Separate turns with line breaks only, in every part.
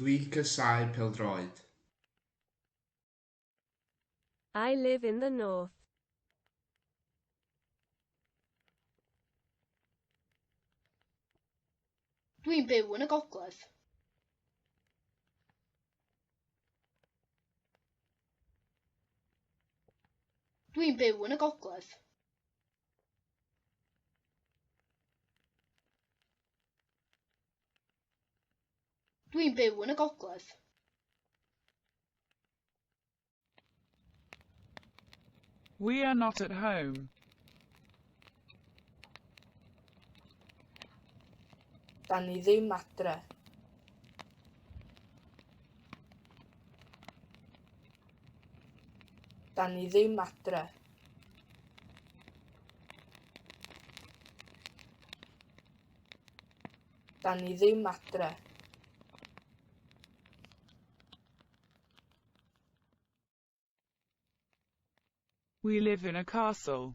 Dwi casau pêl-droed. I live in the north. Dwi'n byw yn y gogledd. Dwi'n byw yn y gogledd. Dwi'n byw yn y gogledd. We are not at home. Da ni ddim adre. Dan ni ddim adre. Dan ni ddim adre. We live in a castle.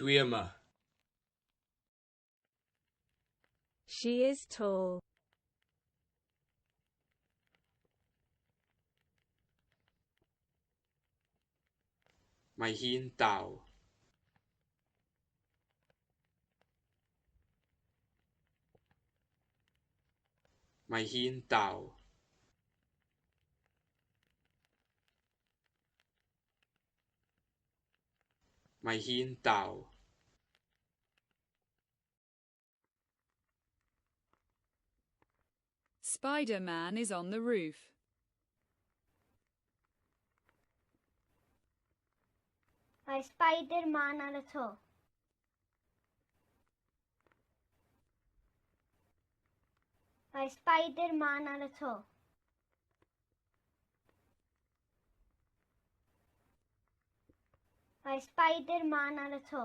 Dwi yma. She is tall. Mae hi'n dal. Mae hi'n dal. Mae hi'n dal. Spider-Man is on the roof. Mae Spider-Man ar y to. Mae Spider-Man ar y to. Mae Spider-Man ar y to.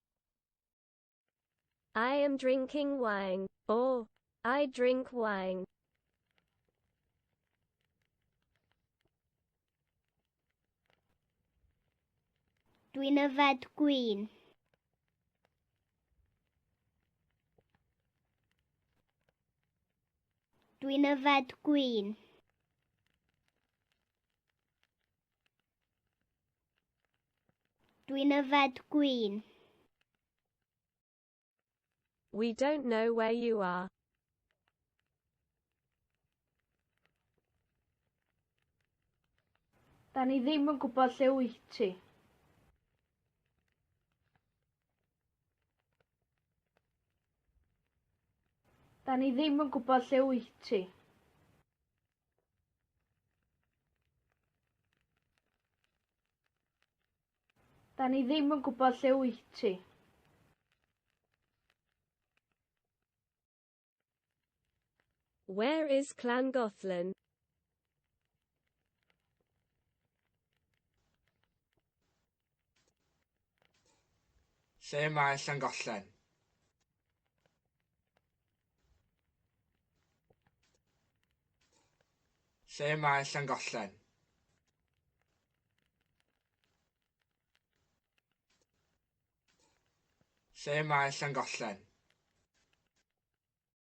I am drinking wine. O, I drink wine. Dwi'n yfed gwyn. Dwi'n yfed gwyn. Dwi'n yfed gwin. We don't know where you are. Da ni ddim yn gwybod lle wyt ti. Da ni ddim yn gwybod lle wyt ti. Da ni ddim yn gwybod lle wyt ti. Where is Llangollen? Lle mae Llangollen? Lle mae Llangollen? Lle mae Llangollen?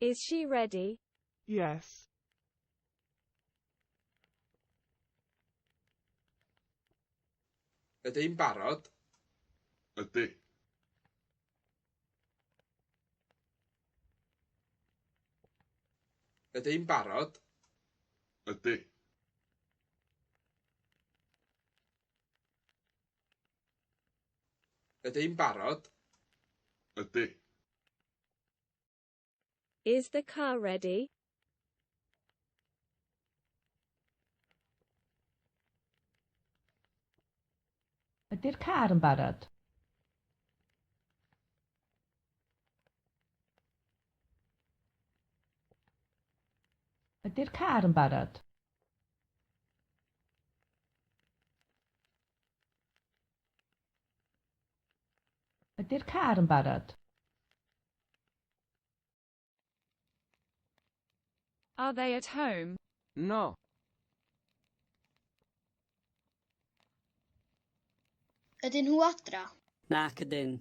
Is she ready? Yes. Ydyn barod? Ydy. Ydyn barod? Ydy. Ydy'n barod? Ydy. Is the car ready? Ydy'r car yn barod? Ydy'r car yn barod? Ydy'r car yn barod? Are they at home? No. Ydyn nhw adra? Nac ydyn.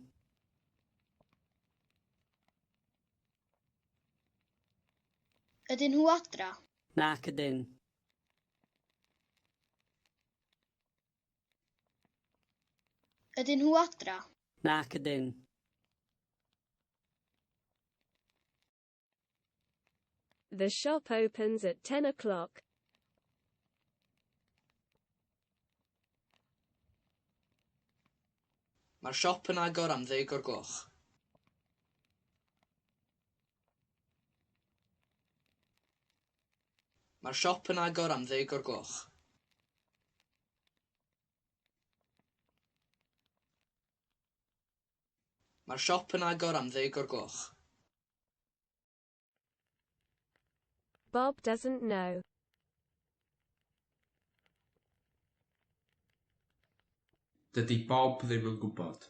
Ydyn nhw adra? Nac ydyn. Ydyn nhw adra? Nac ydyn. The shop opens at 10 o'clock. Mae'r siop yn agor am ddeg o'r gloch. Mae'r siop yn agor am ddeg o'r gloch. Mae'r siop yn agor am ddeg o'r gloch. Bob doesn't know. Dydy Bob ddim yn gwybod.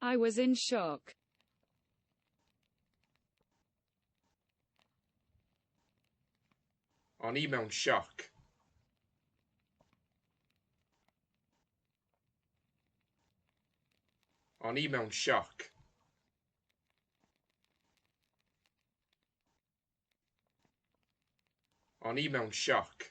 I was in shock. O'n i mewn sioc. O'n i mewn sioc. O'n i mewn sioc.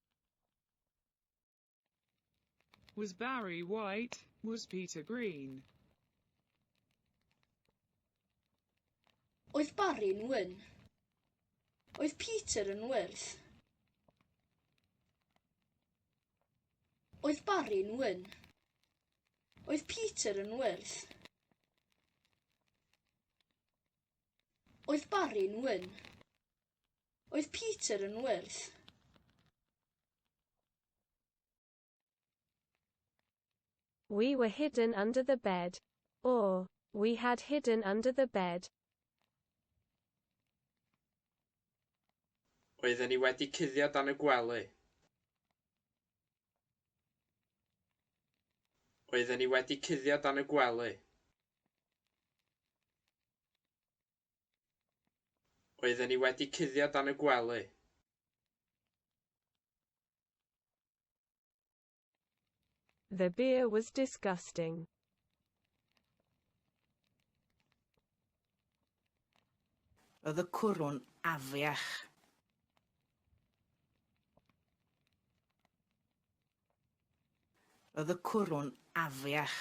Was Barry white? Was Peter green? Oedd Barry'n wyn? Oedd Peter yn wyrdd? Oedd Barry'n wyn? Oedd Peter yn wyrdd? Oedd Barry'n wyn? Oedd Peter yn wyrdd? We were hidden under the bed. Or, we had hidden under the bed. Oedden ni wedi cuddio dan y gwely. Oedden ni wedi cuddio dan y gwely. Oedden ni wedi cuddio dan y gwely. The beer was disgusting. Oedd y cwrw'n afiach. Oedd y cwrw'n afiach.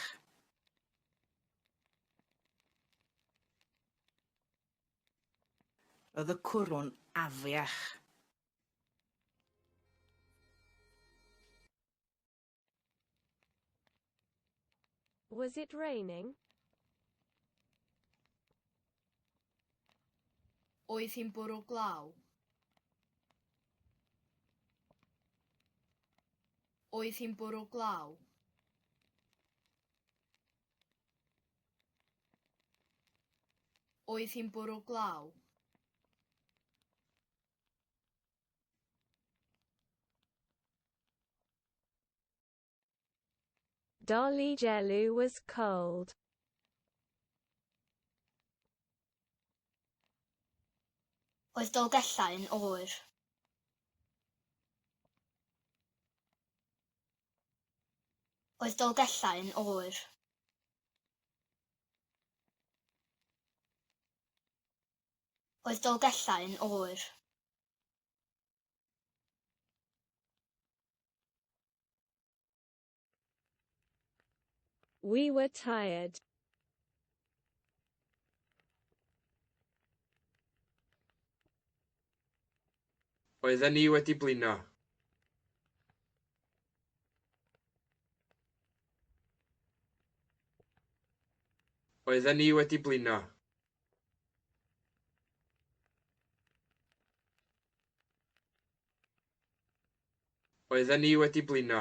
Roedd y cwrw'n afiach. Was it raining? Oedd hi'n bwrw glaw? Oedd hi'n bwrw glaw? Oedd hi'n bwrw glaw? Dolly Jellu was cold. Oedd Dolgellau yn oer? Oedd Dolgellau yn oer. Oedd Dolgellau yn oer. We were tired. Oedden ni wedi blino. Oedden ni wedi blino. Oedden ni wedi blino.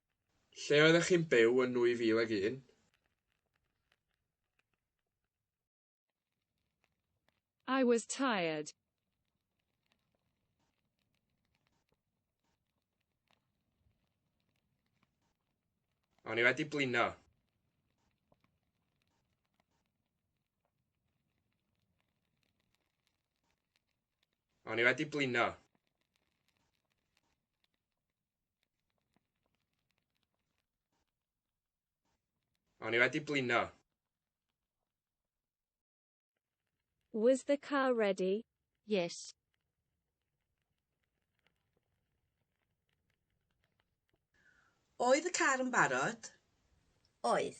Lle oeddech chi'n byw yn 2001? I was tired. O'n i wedi blino. O'n i wedi blino. O'n i wedi blino. Was the car ready? Yes. Oedd y car yn barod? Oedd.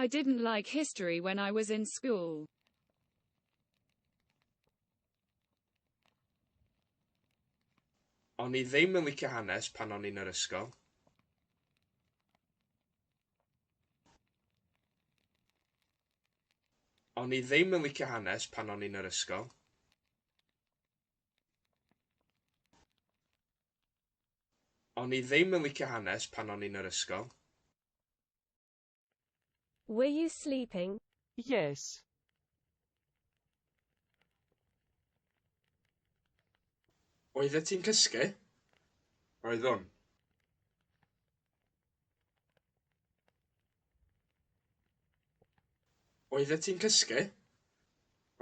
I didn't like history when I was in school. O'n i ddim yn licio hanes pan o'n i'n yr ysgol. O'n i ddim yn licio hanes pan o'n i'n yr ysgol. O'n i ddim yn licio hanes pan o'n i'n yr ysgol. Were you sleeping? Yes. Oeddet ti'n cysgu? Oeddwn. Oeddet ti'n cysgu?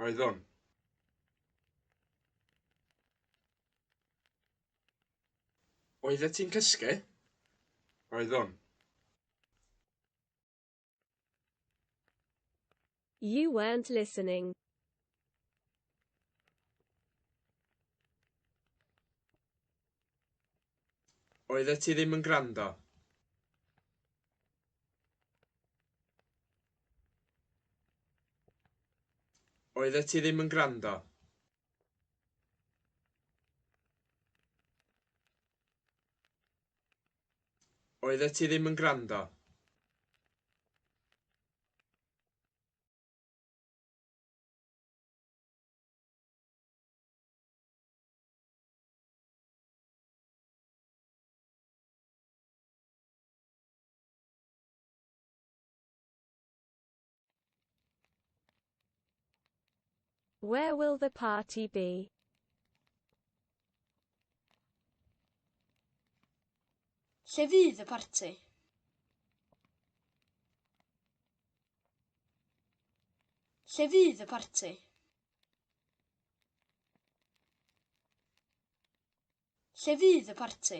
Oeddwn. Oeddet ti'n cysgu? Oeddwn. You weren't listening. Oeddet ti ddim yn gwrando. Oeddet ti ddim yn gwrando. Oeddet ti ddim yn gwrando. Where will the party be? Lle fydd y parti? Lle fydd y parti? Lle fydd y parti?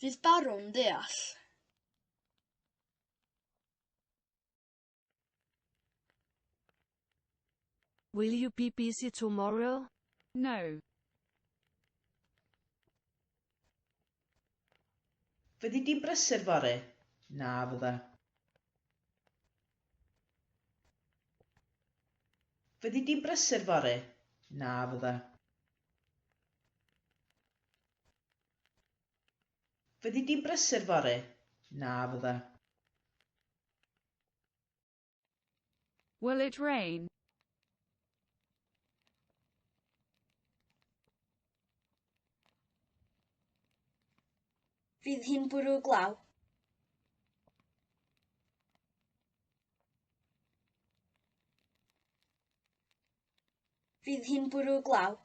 Fydd Baron ddeall? Will you be busy tomorrow? No. Fyddi di'n brysur fory? Na, fydda. Fyddi di'n brysur fory? Na, fydda. Fyddi di'n brysur fory? Na, fydda. Will it rain? Fydd hi'n bwrw glaw? Fydd hi'n bwrw glaw.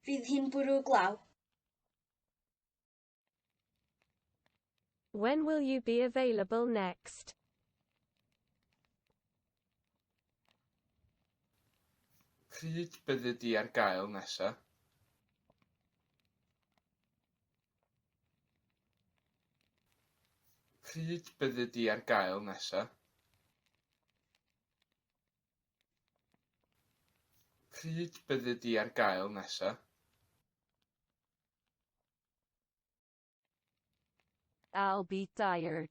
Fydd hi'n bwrw glaw. When will you be available next? Pryd byddi di ar gael nesa? Pryd byddi di ar gael nesa? Pryd byddi di ar gael nesa? I'll be tired.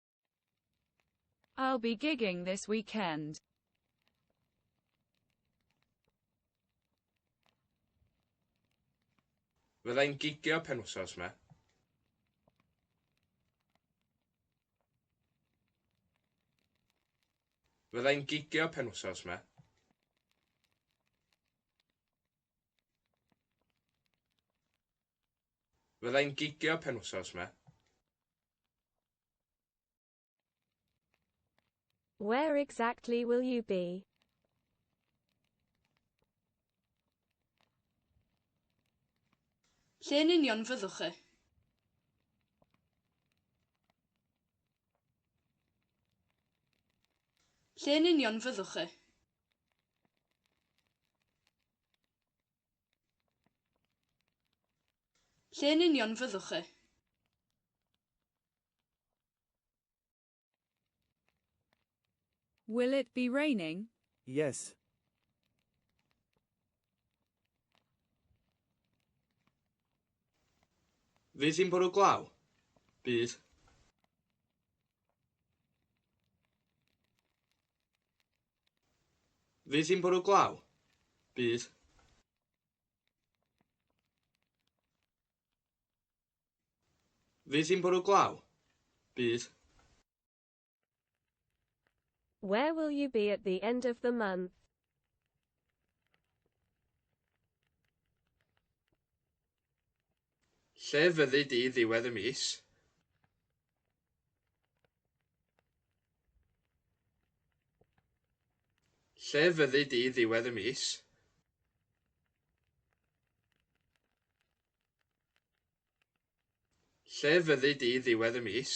I'll be gigging this weekend. Fyddai'n gigio penwsos me. Fyddai'n gigio penwsos me. Fyddai'n gigio penwsos me. Where exactly will you be? Lle yn union fyddwch chi? Lle yn union fyddwch chi? Lle yn union fyddwch chi? Will it be raining? Yes. Fydd hi'n bwrw glaw? Bydd. Fydd hi'n bwrw glaw? Bydd. Fydd hi'n bwrw glaw? Bydd. Where will you be at the end of the month? Lle fyddi di ddiwedd y mis? Lle fyddi di ddiwedd y mis? Lle fyddi di ddiwedd y mis?